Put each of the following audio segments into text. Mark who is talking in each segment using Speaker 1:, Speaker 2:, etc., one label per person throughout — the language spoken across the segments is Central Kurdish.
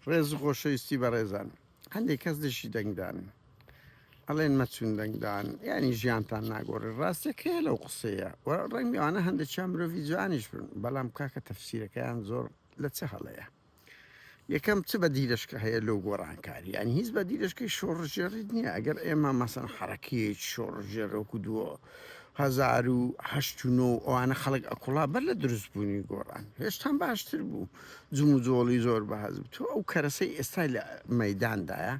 Speaker 1: ڕێز و خۆشەویستی بەڕێزان هەندێک کەس دژی دەنگدان ئەڵێن مەچون دەنگدان ینی ژیانتان ناگۆڕێ ڕاستەکەیە لەو قسەیە و ڕەنگەوانە هەندێک چا مرۆڤی جوانیش بن بەڵام کاکە تەفسیرەکەیان زۆر لە چ هەڵەیە یەکەم چ بە دیرشکە هەیە لەو گۆڕانکاری یان هیچ بە دیرشکەی شۆڕژێڕیت نییە ئەگەر ئێمە مەسەن حرەکەیەک شۆڕژێرۆک و دووە هزار و هەشت و نۆ ئەوانە خەڵک ئەکوڵا بەر لە دروستبوونی گۆڕان هێشتان باشتر بوو. جموجۆڵی زۆر بەهەست بوو. تۆ ئەو کەرەسەی ئێستا لە مەیداندایە،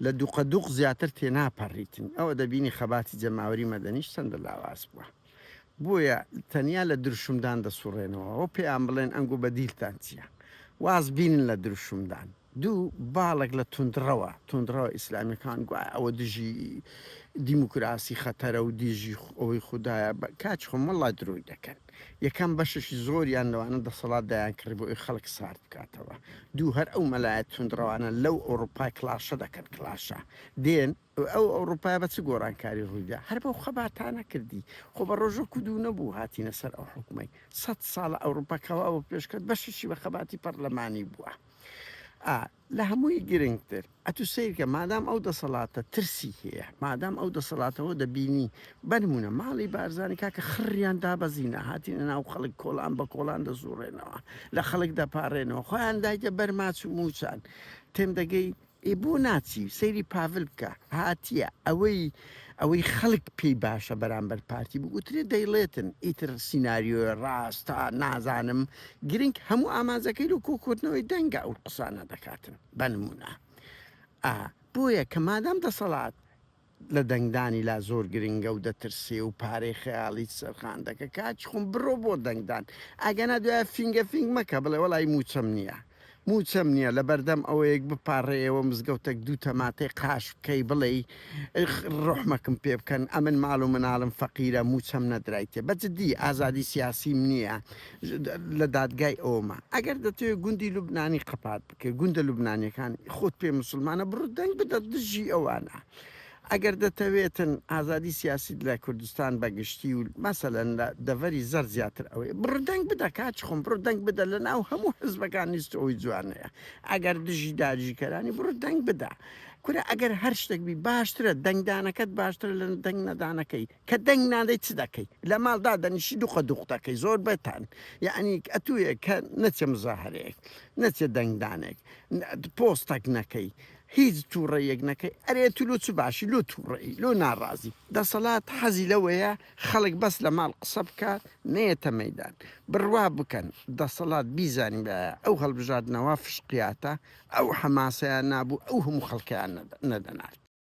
Speaker 1: لە دوقەدوق زیاتر تێناپەڕیتن. ئەوە دەبینی خەباتی جەماوەری مەدەنیش چەندە لاواز بووە. بۆیە تەنیا لە دروشمدان دەسوڕێنەوە. ئەوە پێیان بڵێن ئەنگۆ بەدیلتان چییە؟ واز بینن لە دروشمدان. دوو باڵێک لە توندڕەوە توندڕەوە ئیسلامیەکان گوایە ئەوە دژی دیموکراسی خەتەرە و دیژی ئەوەی خودایە بە کاچ خۆم وەڵا درۆی دەکەن یەکەم بەشەشی زۆریان لەوانە دەسەڵات دایان کڕی بۆ ئەوی خەڵک سارد بکاتەوە دوو هەر ئەو مەلایە توندڕەوانە لەو ئەوڕوپای کڵاشە دەکەن کڵاشە دێن ئەو ئەوڕوپای بە چ گۆڕانکاری ڕوویدا هەر بەو خەباتانە کردی خۆ بە ڕۆژە کودو نەبوو هاتینە سەر ئەو حکومەی سەد ساڵە ئەوڕوپا کەوا بۆ پێشکەت بەشەشی بە خەباتی پەرلەمانی بووە ئا لە هەمووی گرنگتر ئەتوو سەیرکە مادام ئەو دەسەڵاتە ترسی هەیە مادام ئەو دەسەڵاتەوە دەبینی بەنمونە ماڵی بارزانانی کاکە خڕیان دابەزینە هاتینە ناو خەڵک کۆڵان بە کۆڵان دەزوڕێنەوە لە خەڵک دەپارێنەوە خۆیان دایتە بەرماچ و موچان تێم دەگەی ئێ بۆ ناچی سەیری پاڤل بکە هاتیە ئەوەی ئەوەی خەلک پێی باشە بەرامبەر پارتی بگوترێ دەیڵێتن ئیتر سیناریۆ راستە نازانم گرنگ هەموو ئامانجەکەی لۆ کۆکردنەوەی دەنگە ئەو قسانە دەکاتن بە نمونە ئا بۆیە کە مادام دەسەڵات لە دەنگدانی لا زۆر گرنگە و دەترسێ و پارەی خەیاڵیت سەرخاندەکە کاکی خۆم بڕۆ بۆ دەنگدان ئەگەنا دوایە فینگە فینگ مەکە بڵێ وەڵایی مووچەم نیە مووچەم نیە لەبەردەم ئەوەیەک بپاڕێیەوە مزگەوتەک دوو تەماتەی قاش بکەی بڵێی ڕوحمەکم پێ بکەن ئەمن ماڵ و مناڵم فەقیرە مووچەم نەدرایتێ بە جدی ئازادی سیاسیم نیە لە دادگای ئەوەما ئەگەر دەتەوێ گوندی لوبنانی قەپات کە گوندە لوبنانیەکان خۆت پێ مسلمانە بڕو دەنگ بدە دژی ئەوانە ئەگەر دەتەوێتن ئازادی سیاسیت لە کوردستان بەگشتی و مەسەلەن لە دەڤەری زەر زیاتر ئەوەیە بڕو دەنگ بدە کاچ خۆم بڕو دەنگ بدە لە ناو هەموو حزبەکان نیست ئەوی جوانەیە ئەگەر دژی داریژکەرانی بڕو دەنگ بدە کورە ئەگەر هەر شتێک بی باشترە دەنگدانەکەت باشترە لە دەنگ نەدانەکەی کە دەنگ نادەی چ دەکەی لە ماڵ دادەنیشی دوقە دوق دەکەی زۆر بەتان یعنی ئەتوێ کە نەچێ مزاهرەیەک نەچێ دەنگدانێک پۆستەک نەکەی هیچ تووڕەیەک نەکەی ئەرێ تو لۆ چ باشی لۆ تووڕەی لۆ ناڕازی دەسەڵات حەزی لەوەیە خەڵک بەس لە ماڵ قسە بکات نەیەتە مەدان بڕوا بکەن دەسەڵات بیزانین بە ئەو هەڵبژاردنەوە فشقیاتە ئەو حەماسەیان نابوو ئەو هەموو خەڵکیان نەدەنارد